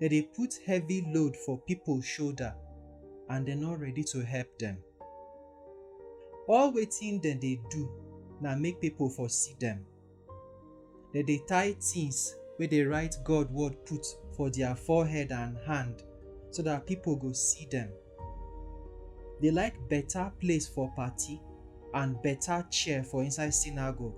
dem dey put heavy load for pipo shoulder and dem no ready to help dem. All wetin dem dey do na make pipo for see dem. Dem dey tie tins wey dey write God word put for dia forehead and hand so dat pipo go see dem. Dey like beta place for party and beta chair for inside synagogue.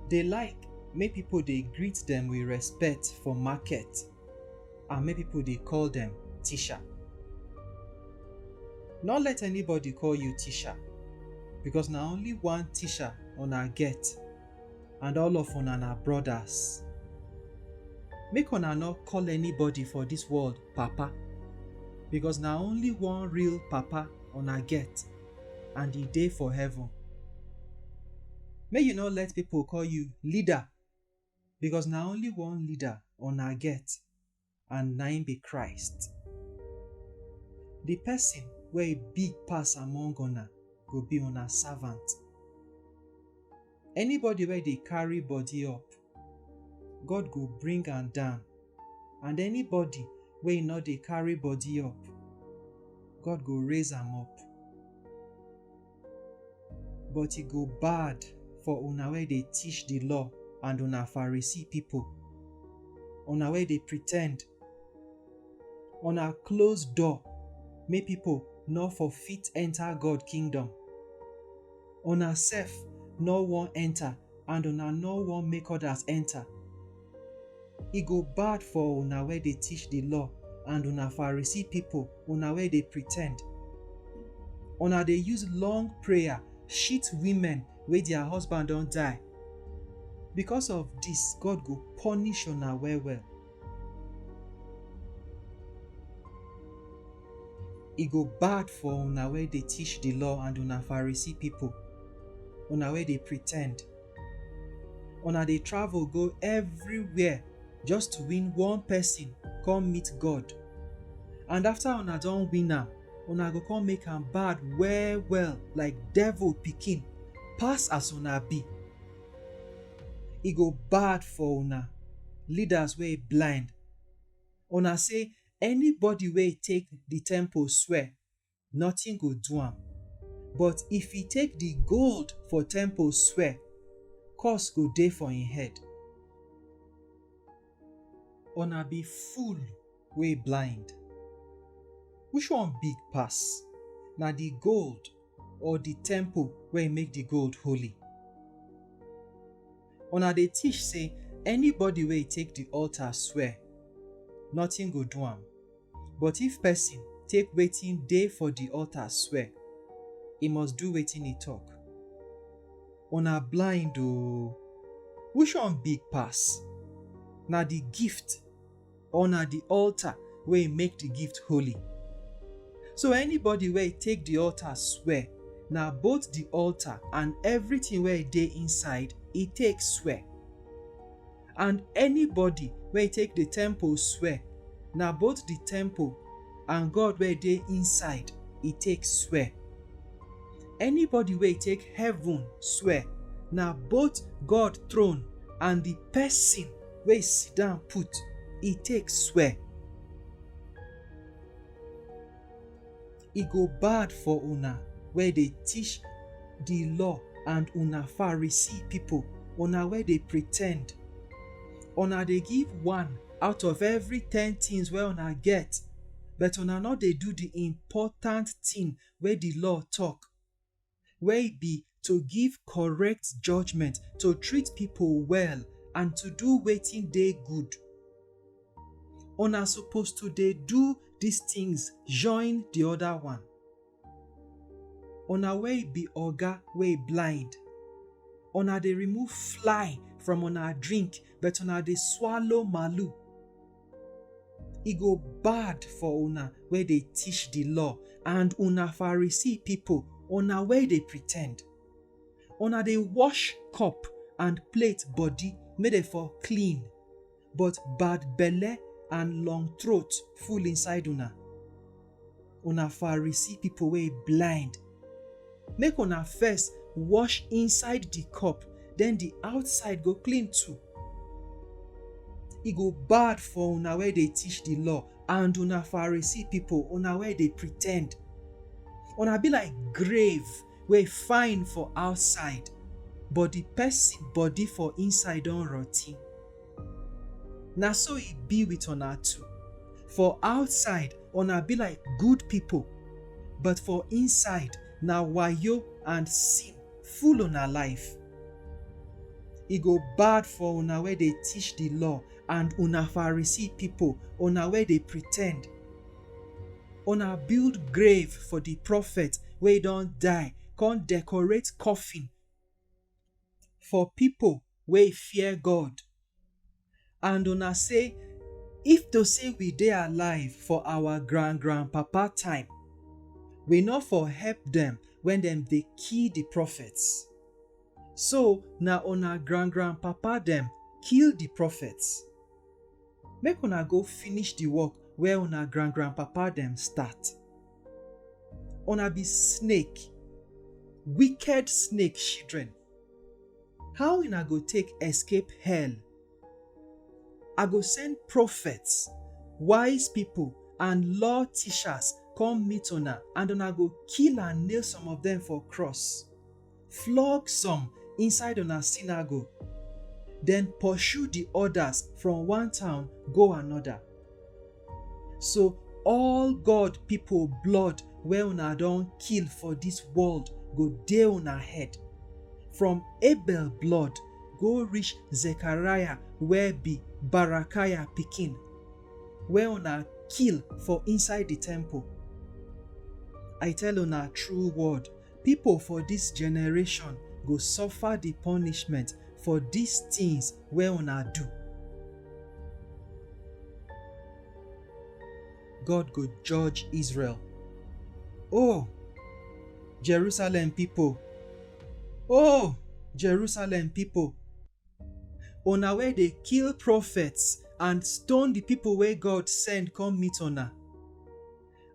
Dey like make pipo dey greet dem wit respect for market and make pipo dey call dem Tisha. Nor let anybody call you Tisha becos na only one Tisha una get and all of una na brodas. Make una nor call anybody for dis world Papa becos na only one real Papa una get. and e dey for heaven. Make you no let people call you leader because na only one leader una get and na im be Christ. The person wey big pass among una go be una servant. Anybody wey dey carry body up, God go bring am down, and anybody wey no dey carry body up, God go raise am up. But e go bad for una wey dey teach the law and una Pharisee people, una wey dey pretend, una close door make people no for fit enter God kingdom. Una sef nor wan enter and una nor wan make others enter. E go bad for una wey dey teach di law and una Pharisee pipo, una wey dey pretend! Una dey use long prayer shit women wey dia husband don die. Becos of dis, God go punish una well-well. E go bad for una wey dey teach di law and una Pharisee pipo, una wey dey pretend. Una dey travel go evriwhere just to win one pesin come meet God. And afta una don win am, una go come make am bad well-well like devil pikin, pass as una be. e go bad for una leaders wey blind, una sey anybody wey take di temple swear notin go do am but if e take di gold for temple swear curse go dey for im head. Una be fool! wey blind? Which one big pass, na di gold or di temple wey make di gold holy? Una dey teach sey anybody wey take di altar swear, notin go do am, but if pesin take wetin dey for di altar swear, e must do wetin e tok. Una blind o! Which one big pass, na di gift? or na the altar wey make the gift holy. So anybody wey take the altar swear, na both the altar and everything wey dey inside e take swear. And anybody wey take the temple swear, na both the temple and God wey dey inside e take swear. Anybody wey take heaven swear, na both God throne and the person wey e sit down put, e take swear, E go bad for una wey dey teach di law and una Pharisee pipo, una wey dey pretend! Una dey give one out of every ten tins wey una get, but una no dey do di important tin wey di law tok. wey be to give correct judgement, to treat pipo well and to do wetin dey good. Una suppose to dey do dis tins join di oda one. Una wey be oga wey blind, una dey remove fly from una drink but una dey swallow malu. E go bad for una wey dey teach di law and una Pharisee pipo, una wey dey pretend! Una dey wash cup and plate body make dem for clean, but bad belle and long throat full inside una. una Pharisee people wey blind, make una first wash inside the cup, then the outside go clean too. E go bad for una wey dey teach the law and una Pharisee people, una wey dey pretend. Una be like grave wey fine for outside, but the person body for inside don rotty. Na so e be with una too. For outside, una be like good people, but for inside, na wayo and sin full una life. E go bad for una wey dey teach the law and una Pharisee people, una wey dey pretend. Una build grave for the prophet wey don die, come decorate coffin. for pipo wey fear God, and una say, If to say we dey alive for our grand-grand-papa time, we no for help dem wen dem dey kill di prophets. So na una grand-grand-papa dem kill di prophets. Make una go finish di work wey una grand-grand-papa dem start. una be snake wicked snake children how una go take escape hell i go send prophets wise people and law teachers come meet una and una go kill and nail some of them for cross flog some inside una sinagogue, den porshu di odas from one town go anoda. So all God pipo blood wey una don kill for dis world go dey una head, from Abel blood go rish Zechariah wey bi Barakaya pikin, wey una kill for inside di temple. I tell una true word, Pipo for dis generation go suffer di punishment for dis tins wey una do. God go judge Israel. O Jerusalem pipo! O Jerusalem pipo! Una wey dey kill prophets and stone di pipo wey God send come meet una.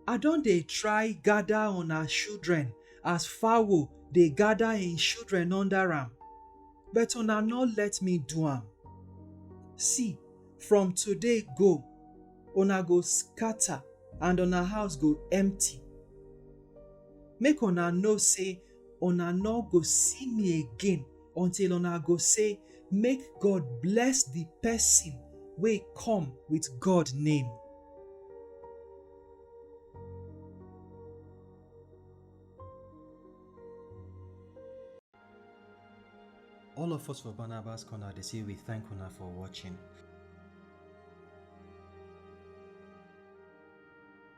I don dey try gather una children as fowl dey gather im children under am, but una no let me do am. See, from today go, una go scatter and una house go empty. Make una know say una no go see me again until una go say make god bless the person wey come with god name all of us for barnabas corner dey say we thank una for watching